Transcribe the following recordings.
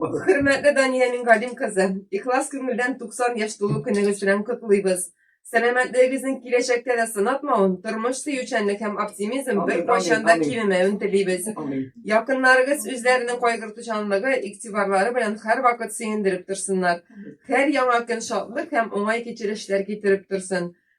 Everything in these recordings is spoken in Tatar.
Хөрмәтле Дания Мингалим кызы, ихлас күңелдән 90 яшь тулу көнегез белән котлыйбыз. Сәламәтлегегезнең киләчәктә дә сынатмавын, тормыш сөючәнлек һәм оптимизм Амин, беркайчан да амин, амин. кимемәвен телибез. Амин. Якыннарыгыз үзләренең кайгыртучанлыгы, игътибарлары белән һәрвакыт сөендереп торсыннар. Һәр яңа көн шатлык һәм уңай кичерешләр китереп торсын.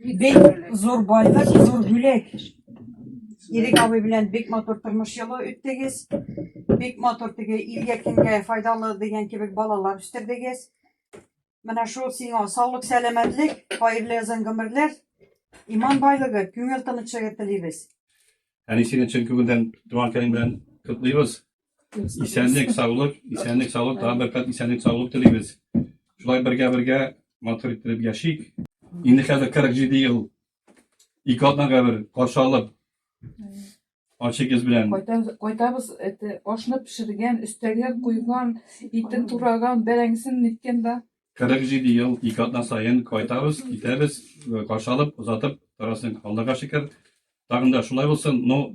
Бик зур байлык, зур бүләк. Ирек абый белән бик матур тормыш юлы үттегез. Бик матур теге илгә кемгә файдалы дигән кебек балалар үстердегез. Менә шул сиңа саулык, сәламәтлек, хәерле озын гомерләр, иман байлыгы, күңел тынычлыгы телибез. Әнисенең чын күңелдән туган көнең белән котлыйбыз. Исәнлек, саулык, исәнлек, саулык, тагын бер кат исәнлек, саулык телибез. Шулай бергә-бергә матур иттереп яшик. Инде хәзер 47 ел ике атнага бер каршы алып, ачык йөз белән Кайта- Кайтабыз, это, ашны пешергән, өстәгә куйган, итен тураган, бәрәңгесен ниткән да. 47 ел ике атна саен кайтабыз, китәбез, э, каршы алып, озатып торасың. Аллага шөкер, тагын да шулай булсын. Но